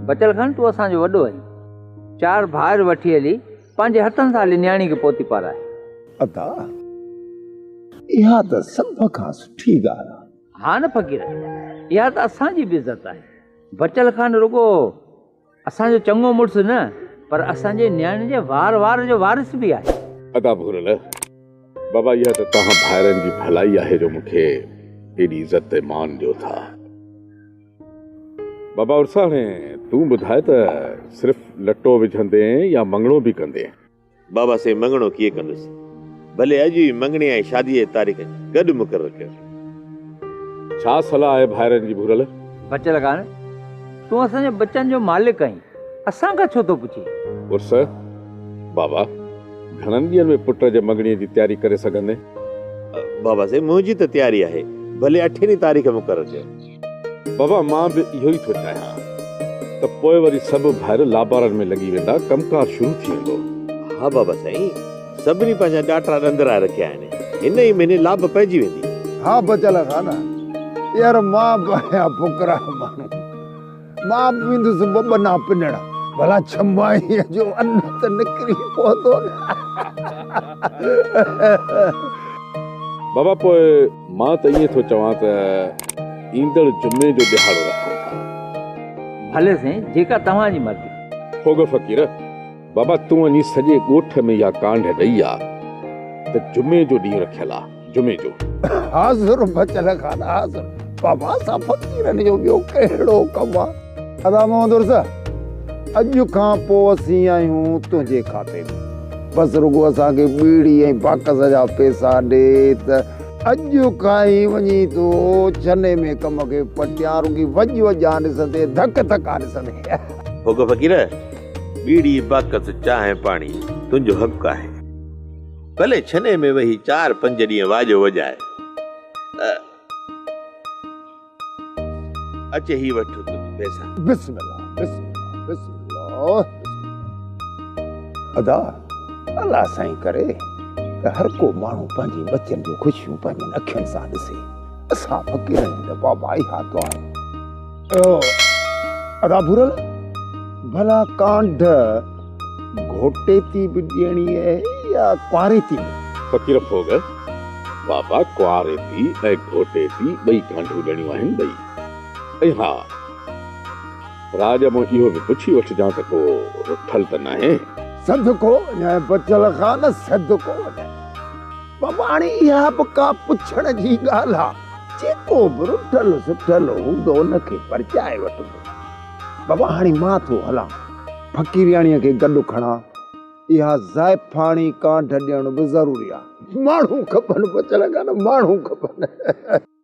بچل خان تون اسان جو وڏو آهين چار ڀائر وٺي هلي پنهنجي هٿن سان هلي نياڻي کي پوتي پارائي ادا اها ته سڀ کان سٺي ڳالهه آهي ها نه فقير اها ته اسان جي به عزت آهي بچل خان رڳو اسان جو چڱو مڙس نه پر اسان جي نياڻي جي وار وار جو وارث به آهي. ادا ڀورل، بابا اها ته توهان ڀائرن جي ڀلائي آهي جو مون کي ايڏي عزت ۽ مان ڏيو ٿا. بابا عرسا هاڻي تون ٻڌاء ته صرف لٽو وجهندين يا مڱڻو به ڪندين؟ بابا سين مڱڻو ڪيئن ڪندس؟ ڀلي اڄ ئي مڱڻي ۽ شاديء جي تاريخ گڏ مقرر ڪيون. ڇا صلاح آهي ڀائرن جي ڀورل؟ بچل ڪانه. تون اسان جي ٻچن جو مالڪ آهين. اسان کان ڇو ٿو پڇين؟ عرس، بابا گهڻن ڏينهن ۾ پٽ جي مڱڻي جي تياري ڪري سگهندين؟ بابا سين منهنجي ته تياري آهي. ڀلي اٺين ئي تاريخ مقرر ڪيون. بابا مان به اهو ئي ٿو چاهيان ته پوء وري سڀ ڀائر لابارن ۾ لڳي ويندا ڪم ڪار شروع ٿي ويندو. ها بابا سائين سڀني پنهنجا ڏاٽا ڏند رائي رکيا آهن هن ئي مهيني لاب پئجي ويندي. ها بچل خان يار مان به آهيان ڦڪرا ماڻهو. مان به ويندس ٻٻنا پنڻ، ڀلا ڇمائيء جو ان ته نڪري پوندو نه. بابا پوء مان ته ائين ٿو چوان ته ايندڙ جمعي جو ڏهاڙو رکون ٿا. ڀلي سائين، جيڪا توهان جي مرضي. هوڳو فقير! بابا تون وڃي سڄي ڳوٺ ۾ اها ڪانڊ ڏئي آ ته جمعي جو ڏينهن رکيل آ، جمعي جو. حاضر بچل خان حاضر. بابا اسان فقيرن جو ٻيو ڪهڙو ڪم آ. ادا محمد عرس اڄ کان پوء اسين آهيون تنهنجي کاتي ۾، بس رڳو اسان کي ٻيڙي ۽ باڪس جا پيسا ڏي ته اڄ کان ئي وڃي ٿو ڇني ۾ ڪم کي پٽيان، رڳي وڄ وڄ آن ڏسندين، ڌڪ ڌڪ آن ڏسندين. هوڪ فقير! ٻيڙي باقت چانهه پاڻي تنهنجو حق آهي. ڀلي ڇني ۾ ويهي چار پنج ڏينهن واڄو وڄائي. اچ هي وٺ تنهنجي پئسا. بسم الله بسم الله بسم الله ادا الله سائين ڪري ته هر ڪو ماڻهو پنهنجي ٻچن جون خوشيون پنهنجين اکين سان ڏسي. اسان فقيرن جي ته بابا اها دعا آهي. ادا ڀورل ڀلا ڪانڍ گھوٽي تي به ڏيڻي اهي يا ڪواري تي به؟ فقير ڦوڳ، بابا ڪواري تي ۽ گھوٽي تي ٻئي ڪانڍون ڏيڻيون آهن ٻئي. ۽ ها راڄ مون اهو به پڇي وٺجان ته ڪو رٿل ته ناهي؟ صدقو وڃائي بچل خان صدقو وڃائي. بابا هاڻي اها به ڪا پڇڻ جي ڳالهه آ. جيڪو به رٺل سٺل هوندو ان کي پرچائي وٺبو. بابا هاڻي مان ٿو هلان. فقيرياڻيء کي گڏ کڻان. اها زائفاڻي ڪانڍ ڏيڻ به ضروري آهي. ماڻهو کپن، پڇ لڳا نه ماڻهو کپن.